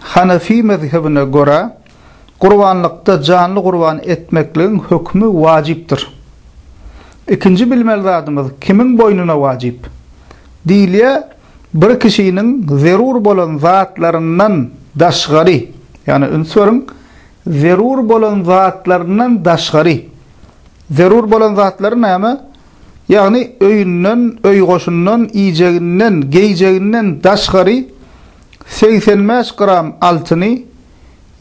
Hanefi mezhebine görä, gurbanlykda janly gurban etmekligiň hökümi wajypdyr. Ikinji bilmeli zadymyz kimiň boýnuna wajyp? Diýilýär, bir kişiniň zerur bolan zatlaryndan daşgary, ýagny üns beriň, zerur bolan zatlaryndan daşgary, zerur bolan zatlary näme? Ýagny öýünden, öý-goşundan, iýjeginden, geýjeginden daşgary, Segsen bäş gram altyny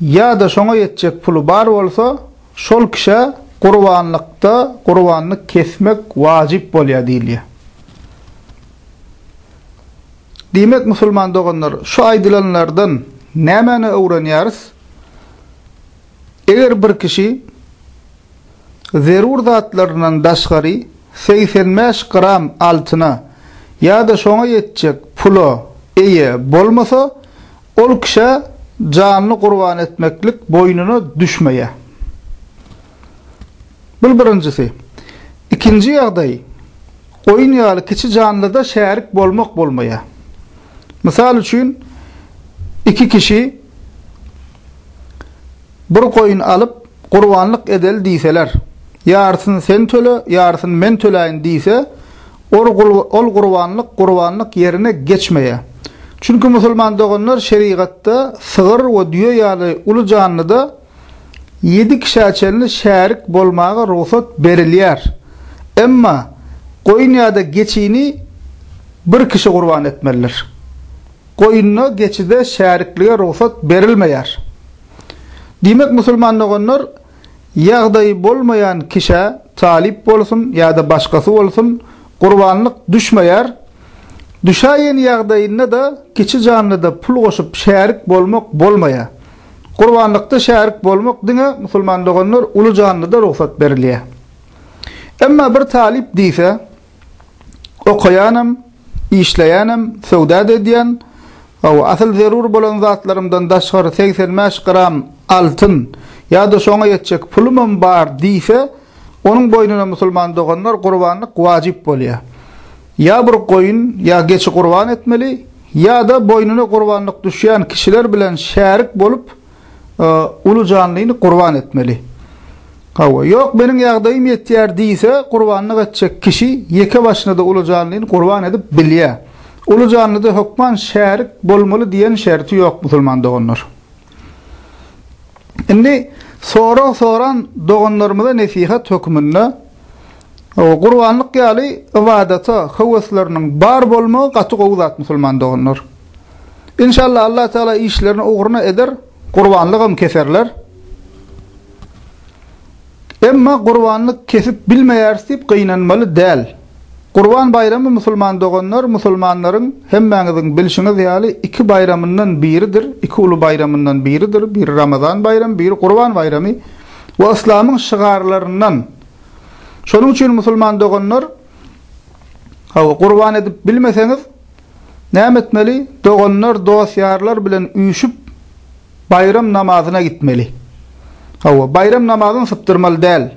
ýa-da şoňa ýetjek puly bar bolsa, şol kişä gurbanlykda gurbanlyk kesmek wajyp bolýar diýilýär. Diýmek, musulman doganlar, şu aýdylanlardan nämäni öwrenýäris? Eger bir kişi. zerur zatlaryndan daşgary segsen bäş gram altyna ýa-da şoňa ýetjek pula eýe bolmasa, ol kişä janyny gurban etmeklik boýnuna düşmeýär. Bul birinjisi. Ikinji ýagdaý, oýun ýaly kiçi janlyda şärik bolmak bolmaýar. Mysal üçin, iki kişi bir goýun alyp, gurbanlyk edeli diýseler, ýarysyny sen töle, ýarysyny men töläýin diýse, ol gurbanlyk gurbanlyk ýerine geçmeýär. Çünki musulman doganlar şerigatda sygyr we düýe ýaly uly janlyda ýedi kişä çenli şärik bolmaga rugsat berilýär. Emma goýun ýa-da geçini bir kişi gurban etmelidir. Goýunda, geçide şäriklige rugsat berilmeýär. Diýmek, musulman doganlar, ýagdaýy bolmaýan kişä, talyp bolsun ýa-da başgasy bolsun, gurbanlyk düşmeýär. Düşäýen ýagdaýynda-da kiçi janlyda pul goşup şärik bolmak bolmaýar. Gurbanlykda şärik bolmak diňe, musulman doganlar, uly janlyda rugsat berilýär. Emma bir talyp diýse. Okaýanam, işleýänem, söwda-da edýän, hawa, asyl zerur bolan zatlarymdan daşgary segsen bäş gram altyn ýa-da şoňa ýetjek pulumam bar diýse, onuň boýnuna musulman doganlar gurbanlyk wajyp bolýar. Ýa bir goýun, ýa geçi gurban etmeli, ýa-da boýnuna gurbanlyk düşýän kişiler bilen şärik bolup, uly janlyny gurban etmeli. Hawa, ýok meniň ýagdaýym ýetýär diýse, gurbanlyk etjek kişi ýeke başyna-da uly janlyny gurban edip bilýär. Uly janlyda hökman şärik bolmaly diýen şerti ýok musulman doganlar. Indi sorag soran doganlarymyza nesihat hökmünde, Gurbanlyk ýaly ybadata höwesleriniň bar bolmagy gaty gowy zat musulman doganlar. Inşallah Allah Taala işlerini ugruna eder, gurbanlygam keserler. Emma gurbanlyk kesip bilmeýäris diýip gynanmaly däl. Gurban baýramy musulman doganlar musulmanlaryň hemmäňiziň bilşiňiz ýaly iki baýramyndan biridir, iki uly baýramyndan biridir, biri Ramazan baýramy, biri Gurban baýramy we yslamyň şygarlaryndan. Şonuň üçin musulman doganlar, hawa, gurban edip bilmeseňiz, näme etmeli? Doganlar, dost-ýarlar bilen üýşüp, baýram namazyna gitmeli. Hawa, baýram namazyny sypdyrmaly däl.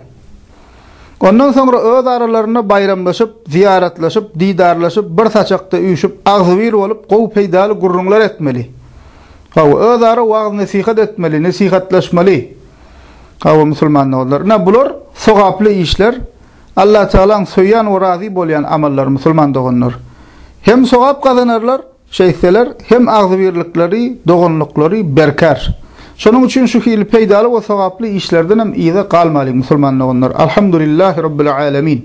Ondan soňra öz aralarynda baýramlaşyp, zyýaratlaşyp, didarlaşyp, bir saçakda üýşüp, agzybir bolup, gowy peýdaly gürrüňler etmeli. Hawa, özara wagyz-nesihat etmeli, nesihatlaşmaly. Hawa, musulman doganlar. Ine, bular sogaply işler, Allatagalaň söýýän we razy bolýan amallar, musulman doganlar. Hem sogap gazanarlar, şeýtseler, hem agzybirlikleri, doganlyklary berkär. Şonuň üçin şu hili peýdaly we sogaply işlerdenem yza galmalyň, musulman doganlar. Alhamdulillahi Rabbil Alemin!